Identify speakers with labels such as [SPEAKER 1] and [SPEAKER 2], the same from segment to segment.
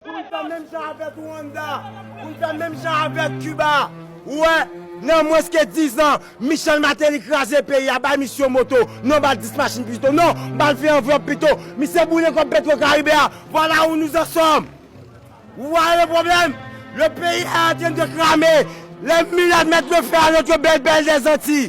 [SPEAKER 1] Pou n fè menm jan avèk Rwanda, pou n fè menm jan avèk Kiba. Ou wè, nan mwens ke dizan, Michel Martelly kraze peyi a, bay misye yon moto, non ba l dis machin pito, non, ba l vin anvlòp pito, misye boule kòb Petrocaribe a, vwala ou nou an sòm! Ou wè le pwoblèm? Le peyi è antren de krame, le milat mèt le fè a notre belle belle des Antilles!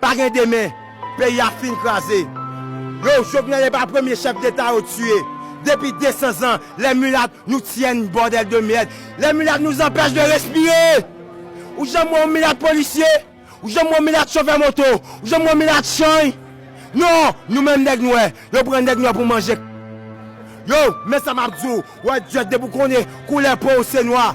[SPEAKER 1] Pa gen demen, peyi a fin kraze. Yow Jovenel epa premye chef deta yo tiye depi 200 zan les mulat nous tiennent bordel de merde les mulat nous empèche de respire ou janm wè yon milat polisye ou janm wè yon milat chofè moto ou janm wè yon milat chany non nou menm nèg nwè yo pran nèg nwè pou manje yow men sa map diw wè dyòt depi ou konnen koulè pow se nwa.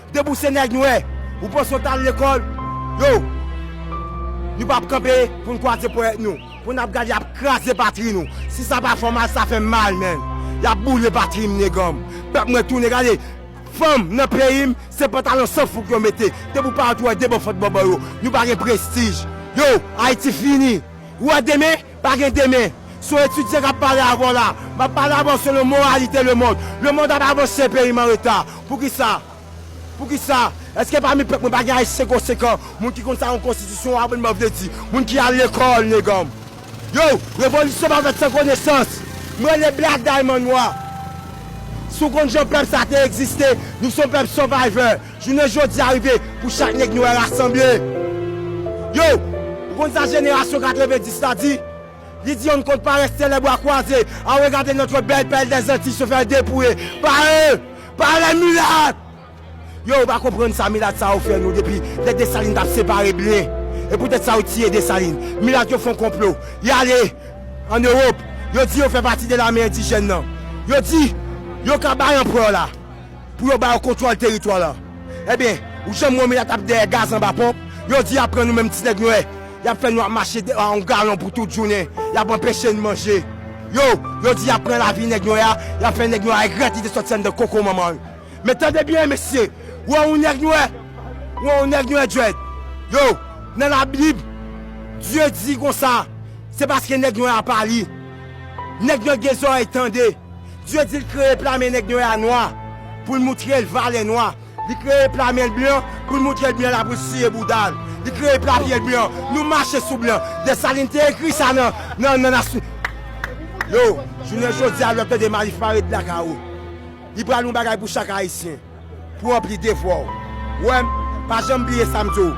[SPEAKER 1] Depi ou se nèg nwè, ou panse ou t al lekòl, yow! Nou p ap kanpe pou n kwaze ponyèt nou, pou n ap gade y ap kraze patri nou. Si sa pa fè w mal, sa fè m mal menn. Y ap boule patri m nega m. Pèp mwen tounen, gade! Fanm nan peyi m, se pantalon san fouk yo mete. Depi ou parèt ou wè de bò fant bòbò yo. Nou pa gen prestij. Yow! Ayiti fini. Ou wè demen? Pa gen demen. Se yon etidyan k ap pale avè w la. M ap pale avè w selon moralite lemond. Lemond ap avanse, peyi m anreta. Poukisa? Poukisa? Èske pami pèp mwen pa gen Ayisyen konsekan, moun ki konn sa yon konstitisyon abònman vle di, moun ki al lekòl, neganm? Yow! Revolisyon pa fèt san konesans! M rele Black Diamond Nwa. Si w konn jan pèp sa te egziste, nou se yon pèp survivor. Jounen jodi a rive pou chak nèg nwè rasanble. Yo! Ou konn sa jenerasyon 90 la di? Li di yon konn parèt sè lè bwa kwaze, a regarder notre belle perle des Antilles se faire depouiller par eux, par les mulattes! Yo! Ou pa konprann sa milat sa yo fè nou depi lè Dessalines tap separe blen. E poutèt sa yo tiye Dessalines. Milat yo fon konplo. Y ale an Europe, yo di yo fè pati de lame endijèn nan. Yo di yo ka bay anprè la. Pou yo ba yo kontwòl teritwa la. Ebyen, ou janm wè milat ap dèyè gaz anba ponp? Yo di y ap pran nou menm ti nèg nwè. Y ap fè nou ap mache dèyè yon galon pou tout jounen. Y ap anpeche n manje. Yo, yo di y ap pran lavi nèg nwè a, y ap fè nèg nwè a regrèt li te sòti anndan koko manman l. Men tande byen, mesye, ou wè yon nèg nwè? Ou wè yon nèg nwè djwed? Yo, nan Labib, Dye di konsa, Se paske nèg nwè a pa li. Nèg nwè gen zòrèy tande. Dye di l kreye plame nèg nwè a nwa pou l moutre l valè nwa. Li kreye plame l blan pou l moutre l blan la pou l siye bouda l. Li kreye plame l blan. Nou mache sou blan. Desalin te ekri sa nan, nan, nan nas. Yo, jounen jodi a lè w ap tande Malif pare de lakay ou. Li pral yon bagay pou chak Ayisyen. Pou ranpli devwa w. Wè, pa janm bliye sa m di w.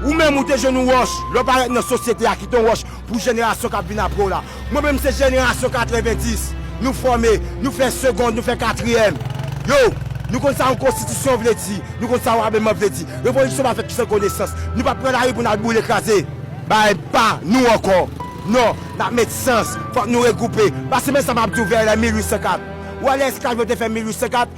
[SPEAKER 1] Ou menm ou te jwenn yon wòch lè w parèt nan sosyete a ki te yon wòch pou jenerasyon k ap vin apre w la. Mwen menm se jenerasyon 90. Nou fòme, nou fè segond, nou fè katriyèm. Yo, nou konn sa yon konstitisyon vle di, nou konn sa yon abiman vle di. Revolisyon pa fèt san konesans. Nou pa p pran lari pou n al boule kraze. Bagay pa nou ankò. Non, n ap met sans. Fòk nou regwoupe. Pase men sa m ap di w vè lè 1804. Wè lè esklav yo te fè 1804?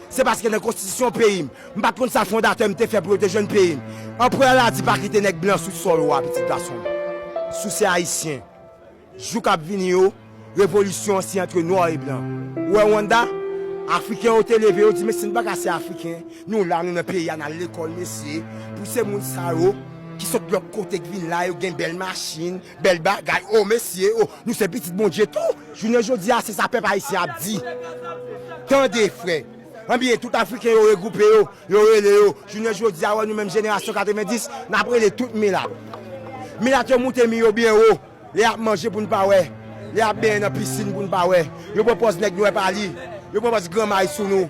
[SPEAKER 1] Se paske nan konstitisyon peyi m, m pa t konn sa fondatè m te fè pou yo te jwenn peyi m. Anprè an la di pa kite nèg blan sou sòl ou a pitit gason m. Si w se Ayisyen, jou k ap vini yo, revolisyon an se antre nwa e blan. Ou wè Rwanda? Afriken yo te leve yo di mesye n pa ka se Afriken, nou la nou nan peyi a n al lekòl mesye, pou se moun sa yo ki sot lòt kote k vin la yo gen bèl machin, Bel bagay oh mesye oh nou se pitit Bondye tou. Jounen jodi a se sa pèp ayisyen ap di tande frè anbyen tout afriken yo regroupe yo yo rele yo jounen jodi a wè nou menm jenerasyon 90 nap rele tout milat milat yo moute mi yo byen wo lè yap manje poun pa wè lè yap benyen nan pisinn poun pa wè yo pran pòz nèg nwè pa li yo pran pòz granmay sou nou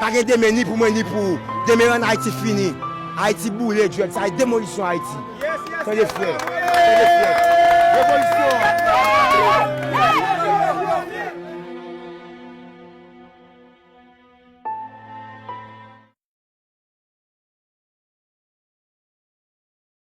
[SPEAKER 1] Pa gen demen ni pou mwen ni pou ou demen an ayiti fini ayiti boule dread sa e demolisyon ayiti tande frè tande frè revolisyon